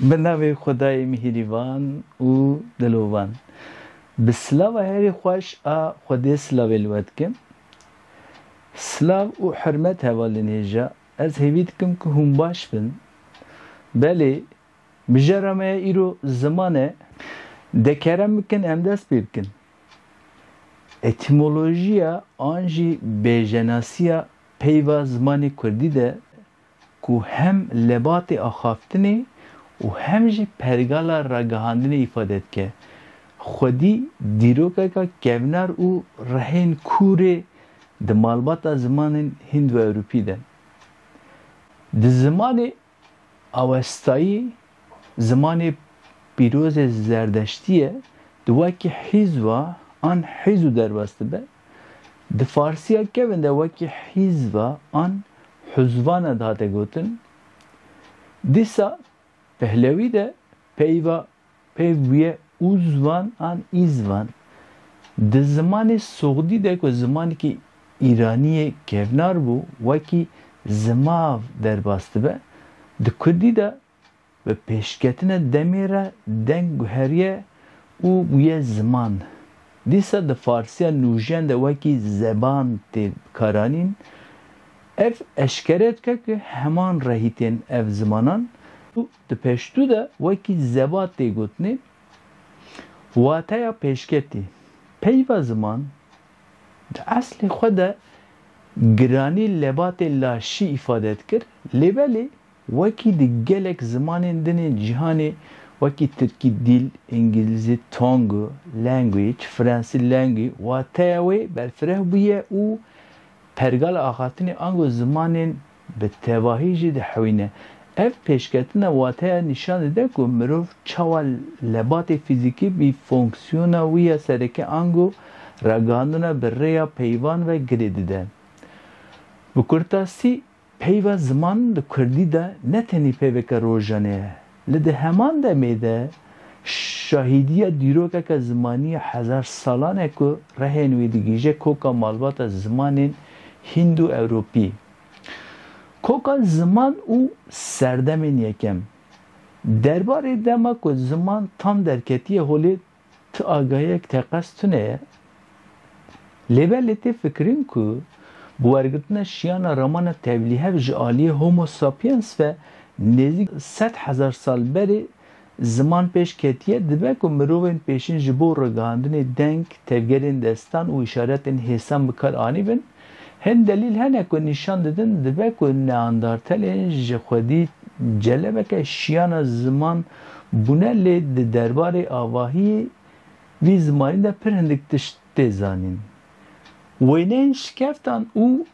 Bi navê Xwedayê mihîrîvan û dilovan. Bi silava herî xweş a Xwedê silavê li we dikim. Silav û hurmet hevalên hêja. Ez hêvî dikim ku hûn baş bin. Belê, mijara me ya îro ziman e. De kerem bikin em dest pê bikin. Etîmolojiya an jî bêjenasiya peyva zimanê kurdî de ku hem lebatê axaftinê û hem jî pergala ragihandinê îfade dike, xwedî dîrokeka kevnar û rehên kûr ê di malbata zimanên Hînd-ewropî de. Di zimanê Awestayî, zimanê pîrozê Zerdeştî ye, di wekî hîzva an hîz û derbas dibe. Di farsiya kevn de wekî hîzva an huzvana dihate gotin, dîsa pehlewî de peyva peyv bûye uzvan an îzvan. Di zimanê sogdî de ku zimanekî îranî yê kevnar bû wekî zimav derbas dibe, di kurdî de bi pêşketina demê re deng guheriye û bûye ziman. Dîsa di farsiya nûjiyan de wekî zeban tê bikaranîn. Ev eşkere dike ku heman rehî tên ev zimanan û di peştû de wekî zeba tê gotinê. Wateya pêşketî, Peyva ziman di eslê xwe de giranî lebatê laşî îfade dikir, lê belê Wekî di gelek zimanên din ên cîhanê wekî tirkî dîl, îngîlîzî tongue, language, fransî langue wateya wê berfireh bûye û pergala axaftinê ango zimanên bi tevahî jî dihewîne. Ev pêşketina wateya nîşan dide ku mirov çawa lebatê fîzîkî bî fonksiyona wî ya sereke ango ragihandina bi rêya peyvan ve girê dide. Bi kurtasî, Peyva ziman li kurdî de ne tenê peyveke rojanê ye, li di heman demê de şahîdiya dîrokeke zimanî ya hezar salan e ku rehên wî digihîje koka malbata zimanên hîndo-ewropî. Koka ziman û serdemên yekem. Derbarê dema ku ziman tam derketiye holê Ti agahiyek teqez tune ye. Lê belê tê fikirîn ku bi wergirtina şiyana ramana tevlîhev ji aliyê Homo sapiens ve nêzîk sed hezar sal berê ziman pêş ketiye, dibe ku mirovên pêşîn ji bo ragihandinê deng, tevgerên destan û îşaretên hêsan bi kar anîbin. Hin delîl hene ku nîşan didin dibe ku Neandartelê ji xwedî celebeke şiyana ziman bûne lê di derbarê avahiyê vî zimanî de pir hindik tişt tê zanîn. Wêneyên şikeftan û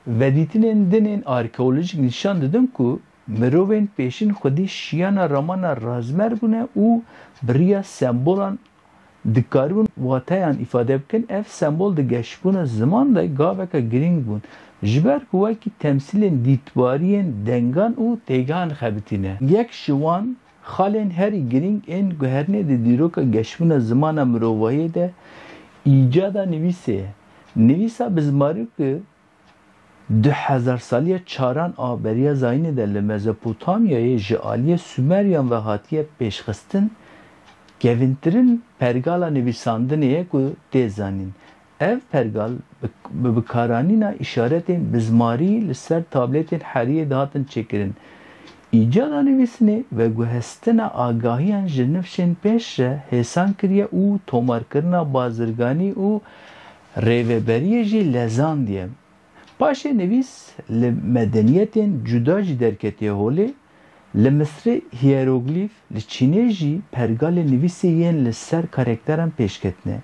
vedîtinên din ên arkeolojîk nîşan didin ku, Mirovên pêşîn xwedî şiyana ramana razmer bûne û bi riya sembolan dikaribûn wateyan îfade bikin. Ev sembol di geşbûna ziman de gaveke girîng bûn, ji ber ku wekî temsîlên dîtbariyên dengan û têgehan xebitî ne. Yek ji wan xalên herî girîng ên guherinê di dîroka geşbûna zimana mirovahiyê de îcada nivîsê ye. Nivîsa bi zimarokê Di hezarsaliya çaran a Beriya Zayînê de li Mezopotamyayê ji aliyê Sumeryan ve hatiye pêşxistin, kevîntirin pergala nivîsandinê ye ku tê zanîn. Ev pergal bi bikaranîna îşaretên bi zmarî li ser tablêtên heriyê dihatin çêkirin. Îcada nivîsinê veguhestina agahiyan ji nifşên pêş re hêsan kiriye û tomarkirina bazirganî û Rêveberiyê jî lezandiye. Paşê nivîs li medeniyetên cuda jî derketiye holê, li Misrê hîyeroglîf, li Çînê jî pergalê nivîsê yên li ser karekteran pêşketine.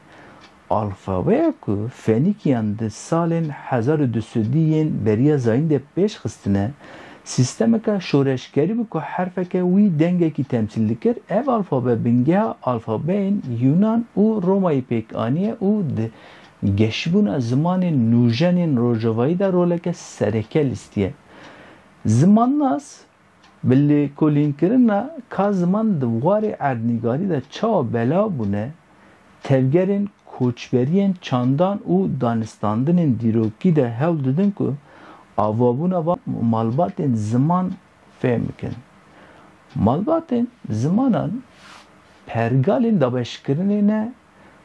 Alfabeya ku Fenîkîyan di salên hezar û du sedî yên beriya zayîn de pêşxistine, Sîstemeke şoreşkerî bû ku herfeke wî dengekî temsîl dikir. Ev alfabe bingeha alfabeyên Yûnan û Romayî pêk aniye û di geşbûna zimanên nûjen ên rojavayî de roleke sereke lîstiye. Zimannas bi lêkolînkirina ka ziman di warê erdnîgarî de çawa belav bûne, tevgerên koçberiyên çandan û danistandinên dîrokî de hewl didin ku avabûna van malbatên ziman fêm bikin. Malbatên zimanan pergalên dabeşkirinê ne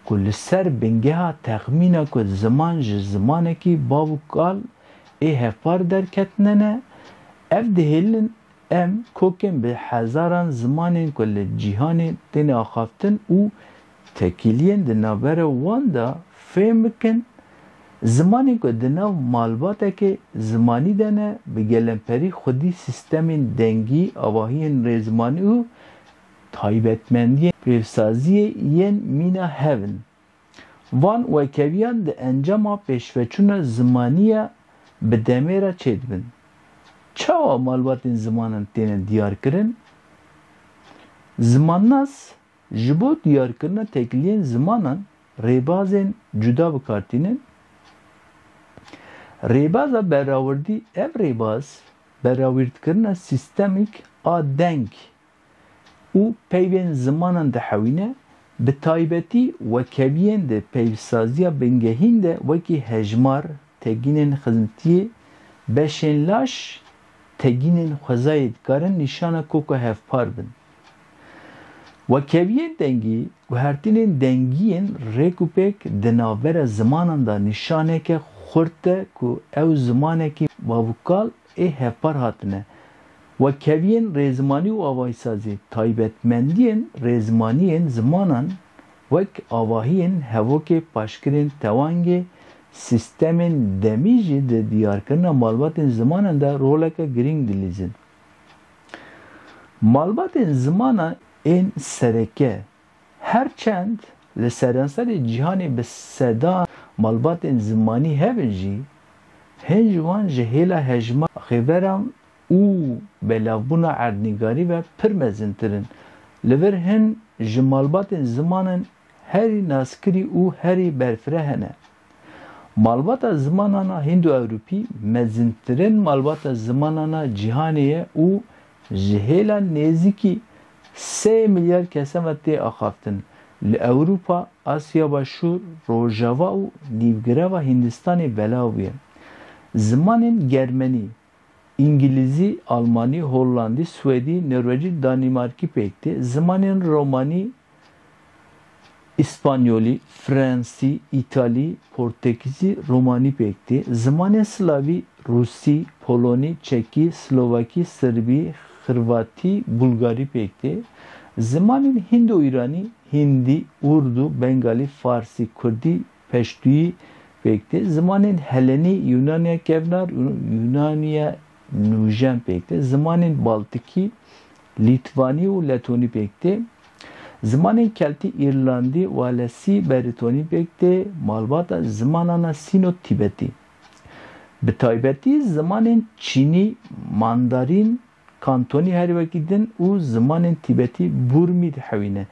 ku li ser bingeha texmîna ku ziman ji zimanekî bav û kal ê hevpar derketine ne, ev dihêlin Em kokên bi hezaran zimanên ku li cîhanê têne axaftin û tekîliyên di navbera wan de fêm bikin, zimanên ku di nav malbatekê zimanî de ne, bi gelemperî xwedî sîstemên dengî, avahiyên rêzimanî û taybetmendiyên pêvsaziyê yên mîna hev in. Van wekeviyan di encama pêşveçûna zimanî ya bi demê re çêdibin. Çawa malbatên zimanan têne diyarkirin? Zimannas ji bo diyarkirina tekiliyên zimanan rêbazên cuda bi kar tînin. Rêbaza berrawirdî, ev rêbaz berrawîrdkirina sîstemîk a deng. û peyvên zimanan dihewîne, bi taybetî wekeviyên di peyvsaziya bingehîn de wekî hejmar, tegînên xizmtiyê, beşên laş, tegînên xwezayê dikarin nîşana koka hevpar bin. Wekeviyên dengî, guhertinên dengî yên rêk û pêk di navbera zimanan de nîşaneke xurt e ku ew zimanekî bavûkal ê hevpar hatine Wekeviyên rêzimanî û avahîsazî, taybetmendiyên rêzimaniyên zimanan wek avahiyên hevokê, paşkirên tewangê, sîstemên demî jî di diyarkirina malbatên zimanan de roleke girîng dilîzin. Malbatên zimanan ên sereke, her çend li seranserê cîhanê bi sedan malbatên zimanî hebin jî, hin ji wan ji hêla hejmara xêveran û belavbûna erdnîgarî ve pir mezintir in. Li vir hin ji malbatên zimanan herî naskirî û herî berfireh hene. Malbata zimanana hîndo-ewropî mezintirin malbata zimanana cîhanê ye û ji hêla nêzîkî sey milyar kesan ve tê axaftin, li Ewropa, Asya Başûr, Rojava û Nîvgirava Hîndistanê belav bûye. Zimanên germenî, Îngilîzî, Almanî, Hollandî, Swedî, Norwecî, Danîmarkî pêk tê. Zimanên Romanî, Îspanyolî, Fransî, Îtalî, Portekîzî, Romanî pêk tê. Zimanên Slavî, Rûsî, Polonî, Çekî, Slovakî, Sirbî, Xirvatî, Bulgarî pêk tê. Zimanên Hîndo-Îranî, Hîndî, Urdû, Bengalî, Farsî, Kurdî, Peştûyî pêk tê. Zimanên Helenî, Yûnaniya Kevnar û Yûnaniya Nûjen pêk tê. Zimanên Baltikî, Lîtvanî û Letonî pêk tê. Zimanên Keltî, Îrlandî, Walesî, Beritonî pêk tê, malbata zimanana Sîno-Tîbetî. Bi taybetî zimanên Çînî, Mandarîn, Kantonî herî wekî din û zimanên Tîbetî, Burmî dihewîne.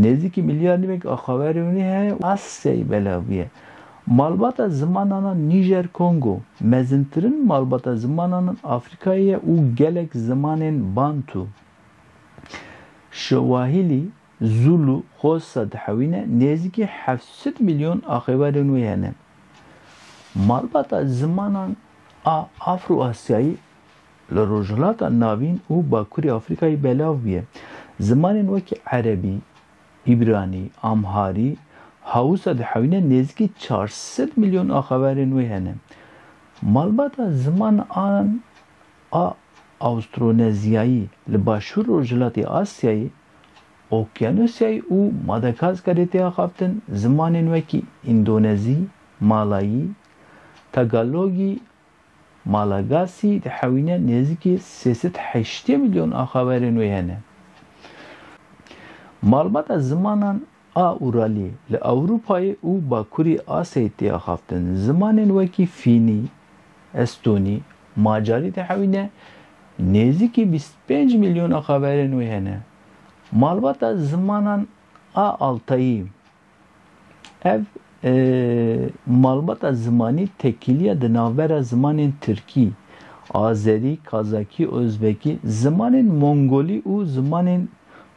Nêzîkî milyar nîvek a Xawerewînî heye û Asyayê belav bûye. Malbata zimanana Nîjer-Kongo, mezintirin malbata zimanana Afrîkayê ye û gelek zimanên Bantû, Şewahîlî, Zûlû, Xhosa dihewîne, nêzîkî heft sed milyon a Xêwerên wê hene. Malbata zimanan a Afro-Asyayî Li Rojhilata Navîn û Bakurê Afrîkayê belav bûye. Zimanên wekî Erebî, Îbranî, Amharî ha wisa dihewîne nêzîkî çar sed milyon axaverên wê hene. Malbata ziman an a Awstronezyayî li başûr rojhilatê Asyayê, Okyanusyayê û Madagaskarê tê axaftin, zimanên wekî Îndonezî, Malayî, Tagalogî, Malagasy dihewîne nêzîkî sê sed heştê milyon axaverên wê hene. Malbata zimanan a Uralî li Ewropayê û Bakurî Asyayê tê axaftin. Zimanên wekî Fînî, Estonî, Macarî dihewîne nêzîkî bîst û pênc milyon axaverên wê hene. Malbata zimanan a Altayî Ev malbata zimanî tekîlîya di navbera zimanên tirkî, azerî, kazakî, ozbekî, zimanên mongolî û zimanên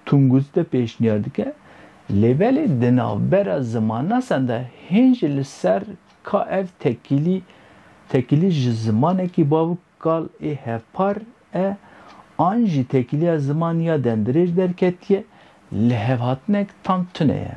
tunguzî de pêşniyar dike. Lê belê di navbera zimannasan de hên jî li ser ka ev tekîlî tekîlî ji zimanekî bav û kal ê hevpar e an jî tekîlîya ziman ya demdirêj derketiye, lihevhatinek tam tune ye.